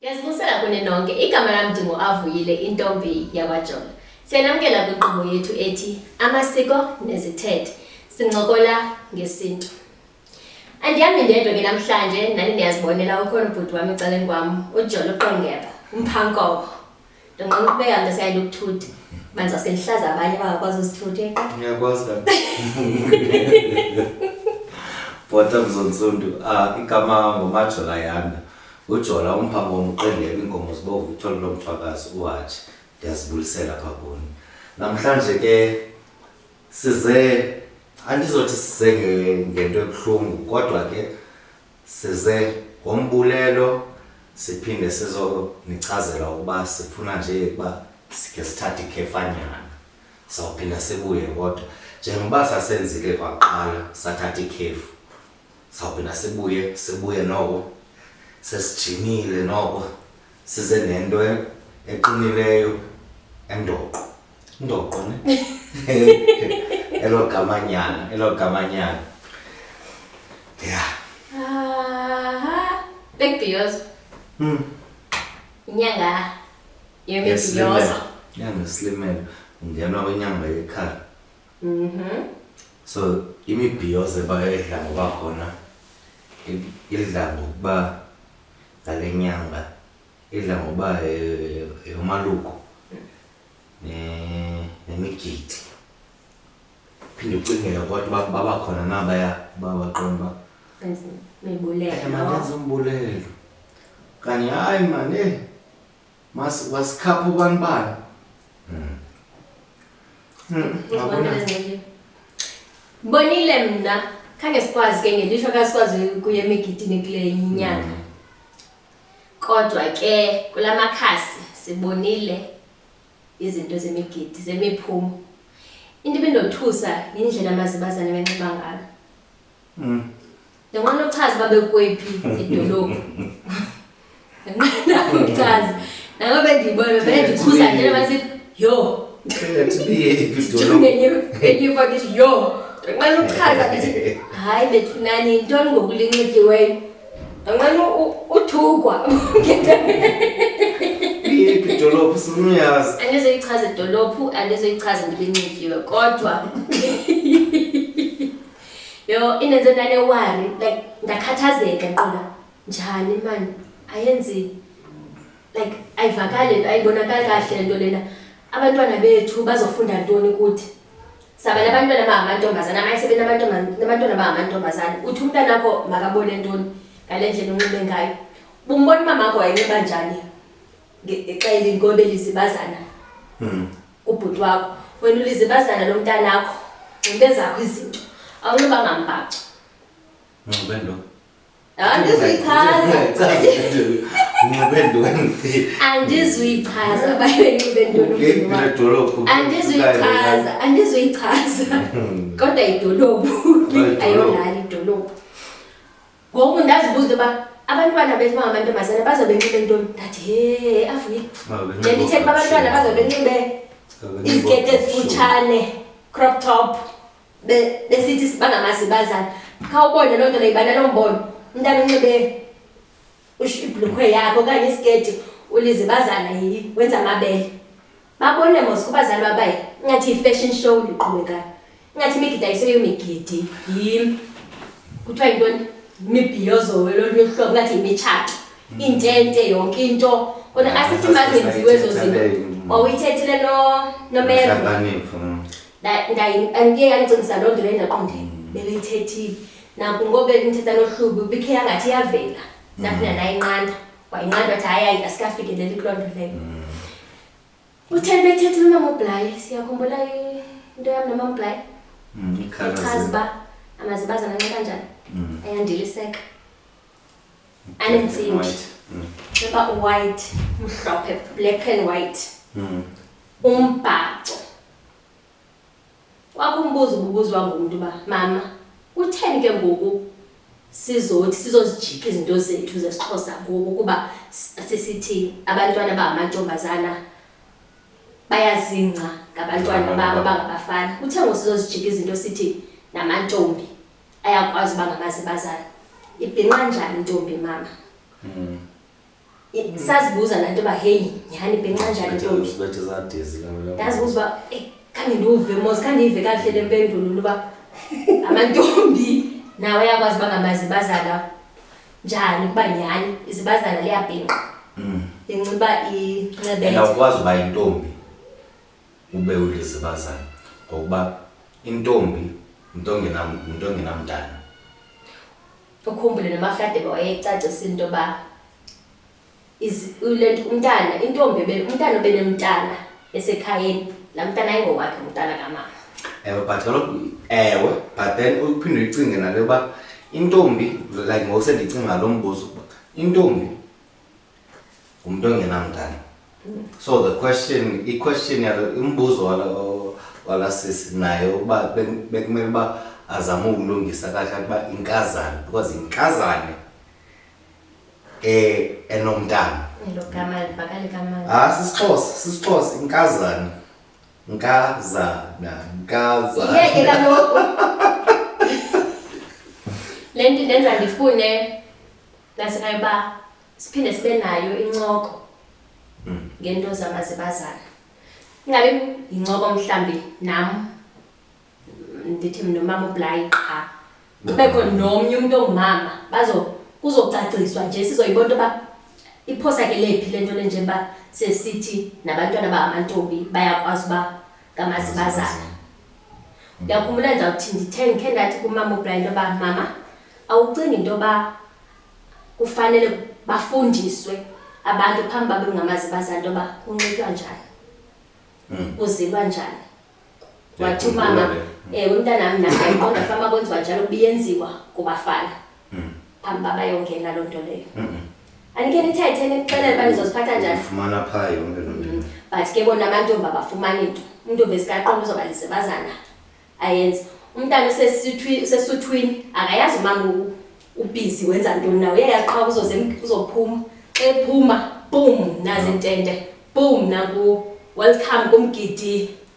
Ndiyazibusela kuni nonke igama lam ndinguavuyile intombi yakwajola siyanamkela kwinkqubo yethu ethi amasiko nezithethe sincokola ngesintu andihambi ndedwa ke namhlanje nani ndiyazibonela ukhona ubhuti wam ecaleni kwam ujola uqongeba umphankobo ndonqena ukubeka mntu siyayile ukuthutha manza sendihlaza abanye bangakwazi uzithutha eqa ngiyakwazi kani bhota mzontsundu um igama ngomajola yanda ujola umphambo womqendeka iinkomo zibovu ithole lo mthwakazi uhatshi ndiyazibulisela pha kuni namhlanje ke size andizothi size ngento ebuhlungu kodwa ke size ngombulelo siphinde sizonichazela ukuba sifuna nje ukuba sikhe sithathe ikhefanyana sawuphinda sibuye kodwa njengoba sasenzile kwaqala sathatha ikhefu sawuphinda sibuye sibuye noko sesijimile noko size nento eqinileyo endoqo Ndoqo ne. Elo gamanyana, elo gamanyana. Yeah. Aha. Bekubhiyozo. Mm. Inyanga yemibhiyozo. Inyanga slimelo. Ungena kwinyanga yekhala. Mhm. So imibhiyozo ebayidla ngoba khona idla ngokuba ngale nyanga idla ngokuba yomaluko nemigidi phinde ucingela kwathi uba baba khona nabaya uba baqonda uba mabenza umbulelo kanye hayi mane masikhapha ubanibani hmm. hmm, bonile mna khange sikwazi ke ngelishwa kasikwazi kuye emigidini kule inyanga hmm. Kodwa ke kula makhasi sibonile izinto zemigidi zemiphumo. Into ebindothusa yindlela amazibazane benxiba ngalo. Mm. Ndinqanda ukuchaza uba bekwephi idolophu. Ndinqanda ukuchaza. Nabo bendiyibona bendikhuza nje bathi yho. Ngenye enye ifake ithi yho. Ndinqanda ukuchaza ndithi hayi bethunani yintoni ngoku linxityweyo. Anqena uthukwa. Iphi idolophu sifuna uyazi. Andizoyichaza idolophu, andizoyichaza ndibe nxikiwe kodwa yo inenze ndanewari like ndakhathazeka nqoba njani mani ayenzi like ayivakali ayibonakali kahle le nto lena abantwana bethu bazofunda ntoni kuthi sabana abantwana bangamantombazana amaye sebenabantwana bangamantombazana uthi umntana akho makabone ntoni ngale ndlela unxibe ngayo bumbona umama akho wayenxiba njani xa elinkobe lizibazana hmm. kubhuti wakho wena ulizibazana lo mntanakho nxibe zakho izinto awunxiba ngambhaco nxibe ntoni andizuyichaza babenxibendolophu andizuyichaza andizuyichaza hmm. kodwa idolophu ayolali idolophu ngoku ndazibuza into yoba abantwana bethu bangamantombazana baza benxibe ntoni ndathi he avuye ndiyandithetha uba abantwana baza benxibe izikete ezifutshane crop top besithi bangamazi bazana khawubone loo nto leyo ibana loo mbono umntana unxibe ibhulukhwe yakho okanye isiketi ulize bazana yi wenza amabele babone mos kubazali babaye ingathi yi-fashion show liqhubekayo ingathi imigidi ayiseyo migidi yim kuthiwa yintoni imibhiyozowe lolunye uhlobo ingathi yimitshato hmm. iintente yonke into kona asithi mazenziwe ezo zinto wawuyithethile nomero ndiye yandicingisa loo nto leyo ndaqonde mm. bebeyithethile naku ngoku bendithetha nohlubi ubikhe yangathi iyavela ndafuna mm. nayinqanda wayinqanda wathi hayi hayi asikafikeleli kuloo nto leyo mm. utheni bethethile unamabhulayi siyakhumbula into yam namabhulayi echaza uba amazibazana nxa kanjani ayandiliseka anentsimbi uba uwhite mhlophe black and white umbhaco Kwakumbuza ububuzwa ngumntu uba mama utheni ke ngoku sizothi sizozijika izinto zethu zesixhosa ngoku kuba sisithi abantwana bangamantombazana bayazingca ngabantwana babo bangabafana kuthe ngoku sizozijika izinto sithi namantombi ayakwazi uba ngabazibazana ibhinqa njani intombi mama mm. sazibuza laa nto uba heyi nyhani bhenxanjani ntombi ndazibuza uba eyi khange ndiwuve mos khandiyive kakuhle le mpendulo uba amantombi nawo ayakwazi uba ngamazibazana njani ukuba nyhani izibazana liyabhinqa mm. inxiba incebeawukwazi uba intombi ube ulizibazana ngokuba intombi mntu ongenamntana ukhumbule noMahladebe wayecacisile into yoba le nto umntana intombi umntana obenemntana esekhayeni laa mntana ayingowakhe umntana kamama ewe but kaloku ewe but then uphinde uyicinge nale yoba intombi like ngokusendicinga lo mbuzo intombi umntu ongenamntana so the question iquestion yalo umbuzo walasisi naye uba bekumele uba azame ukulungisa kahle ukuba inkazane because inkazane eh enomntana logama livakale kamali ah sisixhosa sisixhosa inkazane nkazana nkazana yeke kaloku le nto indenza ndifune nasekhaya uba siphinde sibe nayo incoko ngento zamazibazana ingabe yincoko mhlawumbi nam ndithi mna umama ublayi qha kubekho nomnye umntu ongumama bazo kuzocaciswa nje sizoyibona into yoba iphosa ke lephi le nto le njengoba sesithi nabantwana bangamantombi bayakwazi uba ngamazibazana ndiyakhumbula ndawuthi ndithe ndikhe ndathi kumama ubra into yoba mama awucingi into yoba kufanele bafundiswe abantu phambi babe ngamazibazana into yoba kunxitywa njani hmm. kuzilwa njani wathi umama um umntanam naye qonda fama kwenziwa njalo kubiyenziwa kubafana Mm. Phambi baba yongena loo nto leyo. Mm-hmm. Andike nithethe nixelele uba nizosiphatha njani. Fumana phaa yonke loo nto. Mm-hmm. But ke bona amantombi abafumani nto. Umntu ovesikaqondo uzoba lisebazana ayenze. Umntana usesuthwini akayazi umama ubhizi wenza ntoni nawo uyayazi qha uzophuma. Xa ephuma, boom, nazi intente. Boom, naku welcome kumgidi.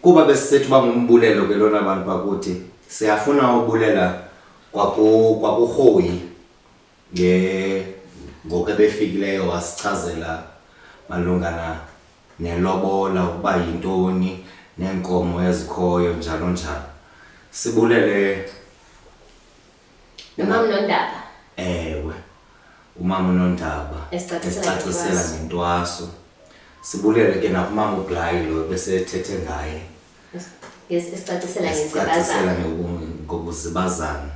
Kuba besisethi uba ngumbulelo ke lona bantu bakuthi siyafuna ubulela kwaku kwakurhoyi nge ngoku ebefikileyo wasichazela malungana nelobola ukuba yintoni neenkomo ezikhoyo njalo njalo sibulele Nomama uNondaba. Ewe. Umama uNondaba esicacisela ngentwaso. Sibulele ke nakumama uBlayi lo besethethe ngaye. Esicacisela ngezibazana. Ngokuzibazana.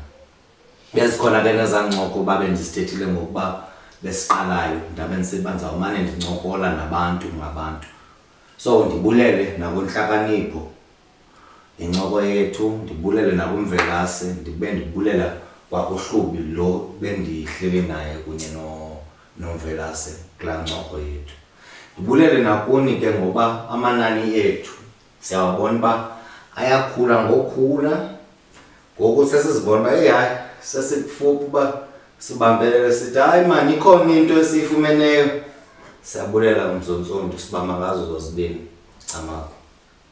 Bezikhona ke nezancoko babe ndisithethile ngokuba besiqalayo ndabe ndisebenza umane ndincokola nabantu ngabantu so ndibulele nakunhlakanipho yincoko yethu ndibulele nakumvelase ndibe ndibulela kwakuhlubi lo bendihleli naye kunye nomvelase kulaa ncoko yethu ndibulele nakuni ke ngoba amanani ethu siyawabona uba ayakhula ngokhula ngoku sesizibona uba eyi hayi sesikufuphi uba sibambelele sithi hayi mani ikhona into esiyifumeneyo siyabulela umzonsondi sibamba ngazo zozibini camako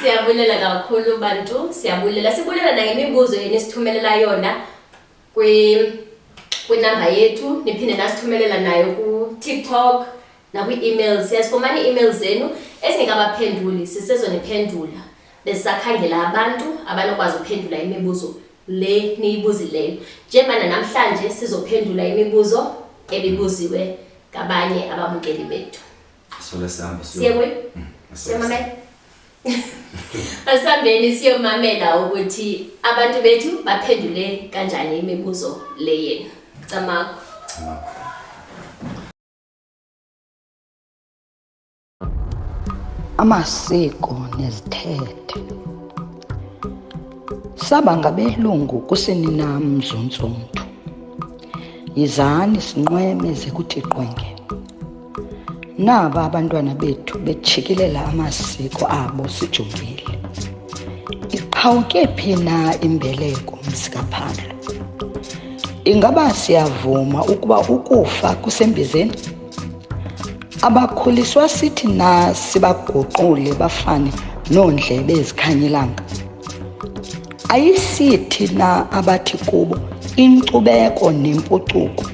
Siyabulela kakhulu bantu, siyabulela. Sibulela nangemibuzo yenu esithumelela yona kwi kwinamba yethu niphinde nasithumelela nayo ku-tiktok nakwi-email siyazifumana ii-email zenu ezingekabaphenduli sisezoniphendula besisakhangela abantu abanokwazi ukuphendula imibuzo le niyibuzileyo njengobana namhlanje sizophendula imibuzo ebibuziwe ngabanye ababukeli bethu asambeni siyomamela ukuthi abantu bethu baphendule kanjani imibuzo le yenu camakho amasiko nezithethe saba ngabelungu kusini nam zontsundu yizani sinqweme zekuthi qwenge naba abantwana bethu betshikilela amasiko abo sijongile iqhawuke phi na imbeleko mzikaphando ingaba siyavuma ukuba ukufa kusembizeni abakhuliswa sithi na sibaguqule bafane noondlebe ezikhanyelanga ayisithi na abathi kubo inkcubeko nempucuko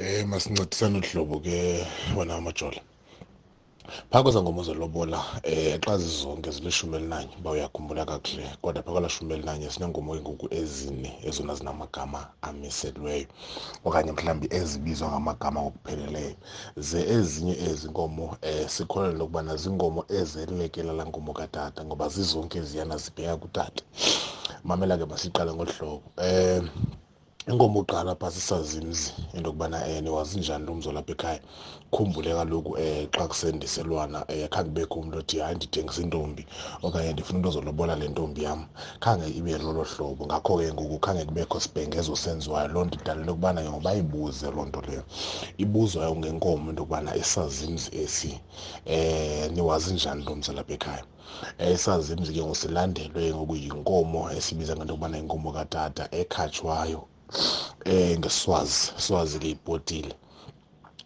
Eh masincedisana uhlobo ke wena amajola. Phaa kweza ngoma zelobola eh xa zizonke zilishumi elinanye uba uyakhumbula kakuhle kodwa phaa kwala shumi elinanye sineenkomo engoku ezine ezona zinamagama amiselweyo okanye mhlawumbi ezibizwa ngamagama ngokupheleleyo ze ezinye ezi nkomo eh sikholelwa lokubana ziinkomo ezelekela laa nkomo katata ngoba zizonke ziyana zibheka kutata mamela ke masiqale ngolu hlobo um eh, inkomo uqala pha sisazimzi into yokubana um eh, niwazinjani lo mzo lapha ekhaya khumbule kaloku um xa kusendiselwana um khange kubekho umntu othi hayi ndithengisa intombi okanye ndifuna into ozolobola le ntombi yam khange ibe lolo hlobo ngakho ke ngoku khange kubekho sibhengezo senziwayo loo nto idalele yokubana ke ngoba ibuze loo nto leyo ibuzwayo ngenkomo into yokubana isazimzi esi um niwazinjani lo mzo lapha ekhaya esazimzi ke ngosilandelwe ngokuyinkomo esibiza ngento yokubana inkomo katata ekhatshwayo um ngeswazi swazi ke ibhotile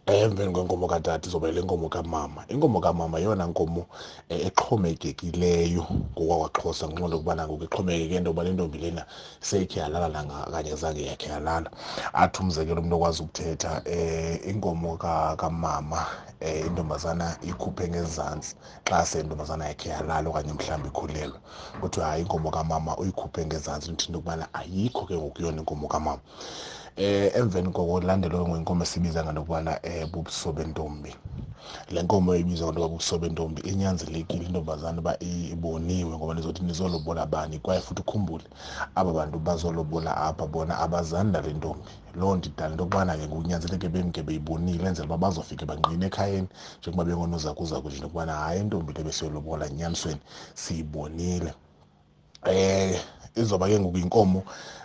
emveni kwenkomo katata izobela inkomo kamama inkomo kamama yeyona nkomo eh, exhomekekileyo ngokwakwaxhosa ngenxa nto yokubana ngoku ixhomekeke into yoba le ntombi lena seyikhe yalala nangakanye zange yakhe yalala athi umzekelo umntu okwazi ukuthetha um inkomo kamama um intombazana ikhuphe ngezantsi xa sentombazana yakhe yalala okanye mhlawumbi ikhulelwe kuthiwe hayi inkomo kamama uyikhuphe ngezantsi ndithini into yokubana ayikho ke ngoku yona inkomo kamama eh emveni koko landelwe ngenkomo esibiza ngento yokubana um eh, bubuso bentombi le nkomo ibizwa nto babuso bentombi inyanzelekile intombazana uba iboniwe ngoba nizothi nizolobola bani kwaye futhi ukhumbule aba bantu bazolobola apha bona abazani nale ntombi loo nto idala into yokubana ke ngokunyanzeleke bemke beyibonile enzela uba bazofike bangqine ekhayeni njengoba bengonozakuzaku nje nokubana hayi intombi le besiyolobola enyanisweni siyibonile eh izoba ke ngoku inkomo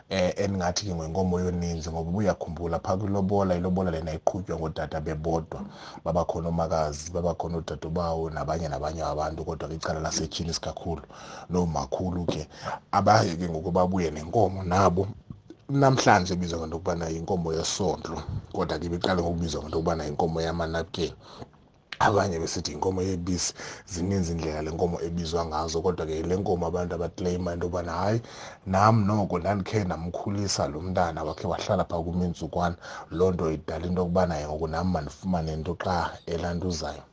eh endingathi ke ngwenkomo yoninzi ngoba uyakhumbula phaa kwilobola ilobola lena iqhutywa ngootata bebodwa babakhona omakazi babakhona oodadobawo nabanye nabanye abantu kodwa kwicala lasetshini isikakhulu loo makhulu ke abaye ke ngoku babuye nenkomo nabo namhlanje ibizwa ngento yokubana yinkomo yesondlo kodwa ke ibiqale ngokubizwa ngento yokubana yinkomo yamanapukeni abanye besithi inkomo yebisi zininzi indlela le nkomo ebizwa ngazo kodwa ke le nkomo abantu abaclaima into yobana hayi nam noko ndandikhe ndamkhulisa lo mntana wakhe wahlala phaa kumintsukwana loo nto idala into yokubana yengoko nam mandifumane nto xa elantuzayo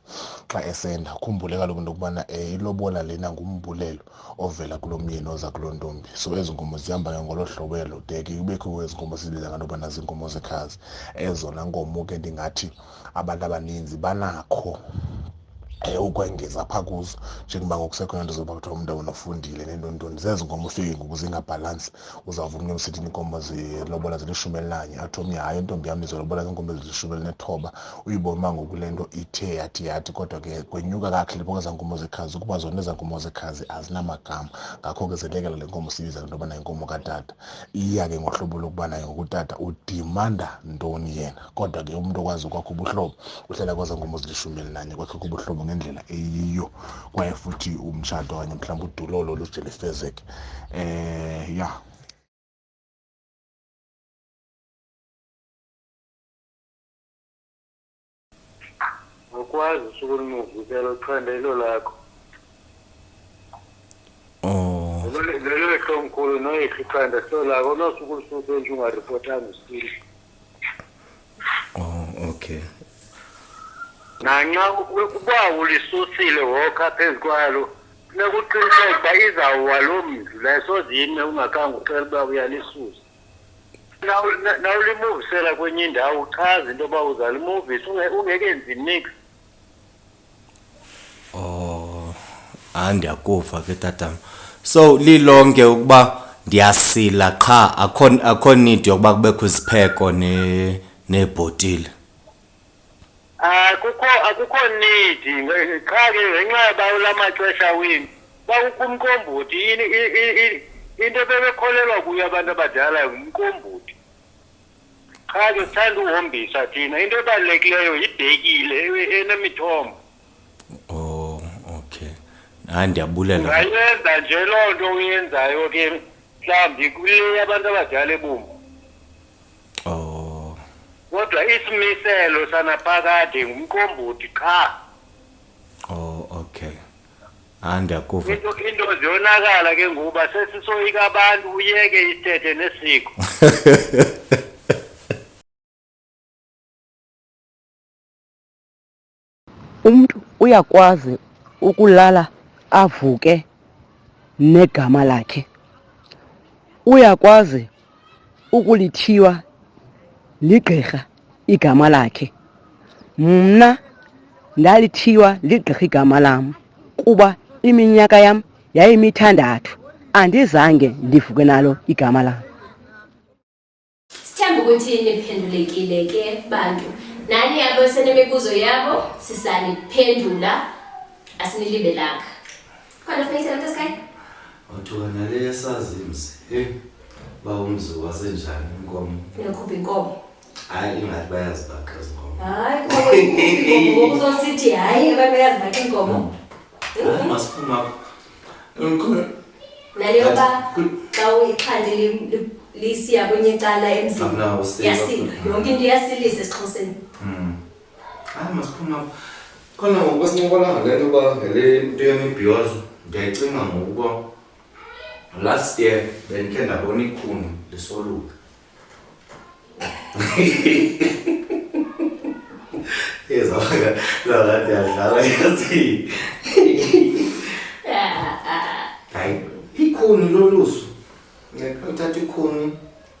xa esenda khumbule kaloku into yokubana um eh, ilobola lena ngumbulelo ovela kulo myeni oza kuloo ntombi so ezi nkomo zihamba ke ngolo hlobo elo de ke kubekho ezi nkomo sizibiza nganto yobana ziinkomo zekhazi ezona nkomo ke ndingathi abantu abaninzi banakho um ukwengeza phaa kuzo njengoba ngokusekhona nto zoba kuthiwa umntu awona ufundile nentontoni zezi nkomo ufike ngoku zingabhalansi uzawuvuma into msithi inkomo zilobola zilishumi elinanye athi omnye hayi intombi yam izolobola ziinkomo ezilishumi elinethoba uyibona uba ngoku le nto ithe yathi yathi kodwa ke kwenyuka kakhe liboka ezaa nkomo zekhazi ukuba zona ezaa nkomo zekhazi azinamagama ngakho ke zelekela le nkomo siyibiza le nto yobana yinkomo katata iya ke ngohlobo lokuba naye ngokutata udimanda ntoni yena kodwa ke umuntu okwazi ukwakho ubuhlobo uhlala kwaza ngomuzi lishumi elinanye kwakhe kubuhlobo ngendlela eyiyo kwaye futhi umtshato okanye mhlawumbi udulolo luje lifezeke um eh, ya awukwazi usuku olunuvikela uthanda ilo lakho oh. lelo lehlomkhulu noyekho ithanda silo lakho nosuku olusuku enje ungaripotanga usile Oh, okay. Nanxa uba ulisusile wokha phezu kwalo funeka uqiniseke uba izawuwa loo mntu le sozime ungakhange ucela uba uyalisusa nawulimuvisela kwenye indawo uchaze into yoba uzalimuvisa ungekenzi nix Oh, hayi ndiyakuva ke tatam. So lilonke ukuba ndiyasila qha akho akho need yokuba kubekho izipheko ne neebhotile. Akukho akukho need nge- qha ke ngenxa yoba ula maxesha wini kwakukho umqombothi yini i- i- i- into ebebekholelwa kuyo abantu abadala ngumqombothi. qha ke sithanda uhombisa thina into ebalulekileyo yibhekile e- enemithombo oh okay hayi ndiyabulela ungayenza nje loo nto uyenzayo ke mhlawumbi kule abantu abadala ebumbu oh kodwa isimiselo sanaphakade ngumqombothi qha oh okay hayi ndiyakuva into into ziyonakala ke ngoba sesisoyika abantu uyeke isithethe nesiko umntu uyakwazi ukulala avuke negama lakhe uyakwazi ukulithiywa ligqirha igama lakhe mna ndalithiywa ligqirha igama lam kuba iminyaka yam yayimithandathu andizange ndivuke nalo igama lam sithemba ukuthi niphendulekile ke bantu nani abesenemibuzo yabo sisaniphendula asinilibelanga Khona funeka isela mntu esikhaya. Wathuka nale yasazi mzi. Hey. Ba umzi wasenjani inkomo? Uyakhupha inkomo. Hayi ingathi bayazi bakhe izinkomo. Hayi inkomo inkomo uzosithi hayi abantu bayazi bakhe inkomo. Hayi masiphuma apha. Inkomo. Nale yoba xa uyixhande lisiya kwenye icala emzini. Yasila. Yonke into iyasilisa esiXhoseni. Mm. hayi masiphuma apha khona ngoku esincokolanga le nto uba ngele nto yemibhiyozo ndiyayicinga ngokuba last year bendikhe ndabona ikhuni lisoluka ezawaka zakanti yadlala yazi hayi ikhuni lolusu uthatha ikhuni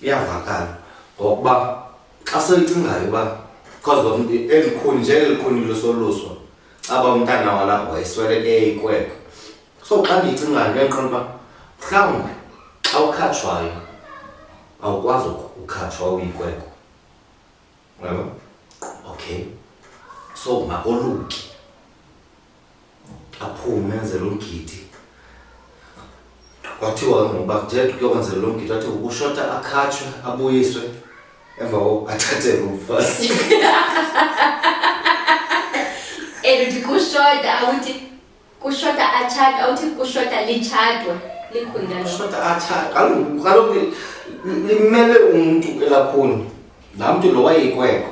iyavakala ngokuba xa soyicingayo uba because lo mntu elikhuni nje elikhuni losoluswa caba umntana walapho wayesweleke ikwekwe so xa ndiyicingayo ndiyayiqonda uba mhlawumbi xa ukhatshwayo awukwazi ukhatshwa uyikwekwe yabo okay so makoluki aphume enzele umgidi kwathiwa ngoba kujeda kuyokwenzela lo mgidi wathi ukushota akhatshwe abuyiswe emva koko athathe lo mfazi and uthi kushota awuthi kushota atshata awuthi kushota litshatwa likhunda lo shota athathe kaloku kaloku li- li- limele umntu elakhuni laa mntu lo wayeyikwekho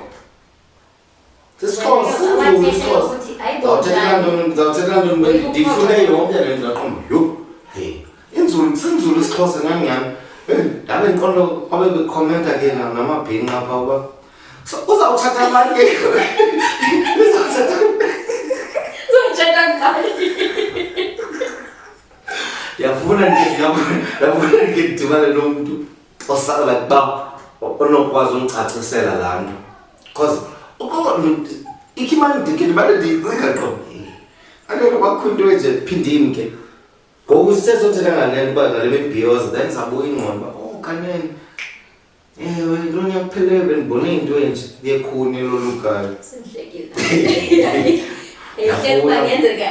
sisiqondo sinzulu isiqondo ndawuthethelantondifune yonke le nto ndaqomba yho inzulu sinzulu isixhosa ngangani ndabe ndiqondo kwabe bekhomenta ke namabhinqa pha uba so uzawuthatha abantu ke uzawuthatha uzawuthatha ngani yafuna yafuna ndike ndidibane nomntu osala like uba onokwazi undicacisela laa nto Cause ukuba ikimani ndikini bale ndiyinqika qo. Angeke bakho into enje phindini ke. Ngoku sisezothetha ngalento uba ngale bebhiyoza then sabuya ingqondo uba oh kanene. Ewe lo nyaka uphelele bendibone into enje yekhuni lolukayo. Sindlekile. Ehleli uba ngenzeka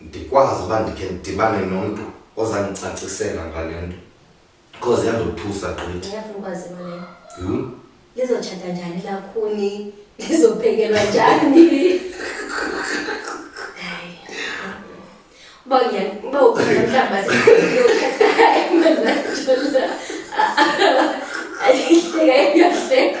ndikwazi uba ndikhe ndidibane nomntu ozandicacisela ngale nto because yandothusa gqithi ndiyafuna ukwazi into leyo Hmm? lizotshata njani lakhuni lizophekelwa njani Hayi. uba uya- uba ukhona mhlawumbi aseyokhata ayihleka iyahleka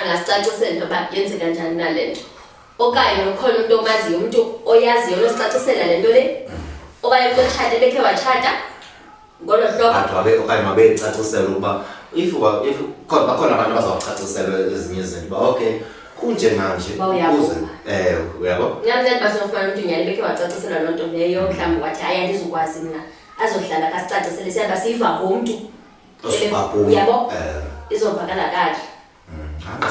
angasicacisela into yoba yenzeka njani na le nto okanye ukhona umntu omaziyo umntu oyaziyo losicacisela le nto le okanye umntu otshate bekhe watshata ngolo hlobo okanye mabeyicacisela ukuba if bakhona abantu abazawucacisela ezinye izinto uba okay kunjenganje ukuze eh uyabo ngamzali basofana umuntu nyali bekhe wacacisa loo nto leyo mhlawumbi wathi hayi andizukwazi mna azohlala kasicacisele siyaba siyiva ngomntu yabo eh. izovakala kahle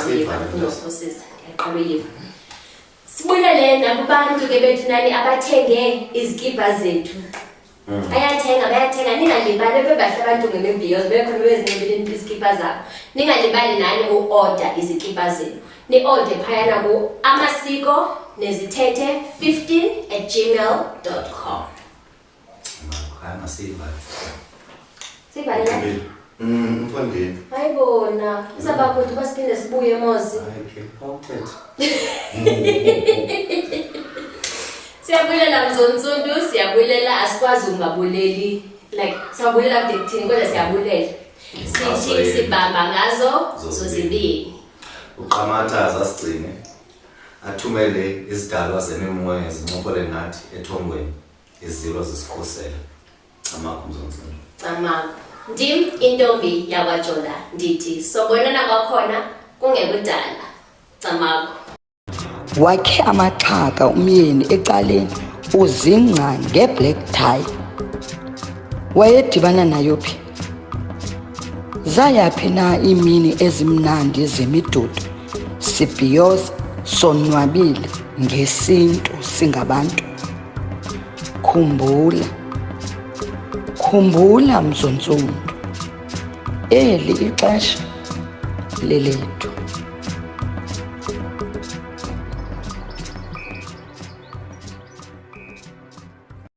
ngiyivaaosisa mm, yaqala uyiva sibulele nakubantu ke bethu nani abathenge izikibha zethu mm. bayathenga bayathenga ningalibali bebahle abantu ngemimbiyozo bekhona bezinxibile izikibha zabo ningalibali nani uoda izikibha zenu ni-ode phayana ku amasiko nezithethe 15 at gmail com Haya masiva. Siva ya. Mm, mfundini. Haibona. Kwa sababu tu basi kile sibuye mozi. Siyabulela mzonsundu, siyabulela asikwazi ungabuleli. Like siyabulela kuthini kodwa siyabulela. Sithi sibamba ngazo zozibili. Uqamatha zasigcine. Athumele izidalwa zemimoya zincopole nathi ethongweni. izilo zisikhusela camakho mzontsini camakho ndim intombi yakwajola ndithi sobonana kwakhona kungekudala camakho wakhe amaxhaka umyeni ecaleni uzingca ngeblack tie wayedibana nayo phi zayaphi na iimini ezimnandi zemidudu sibhiyoza sonwabile ngesintu singabantu Khumbula, khumbula mzontsundu, eli ixesha lelethu.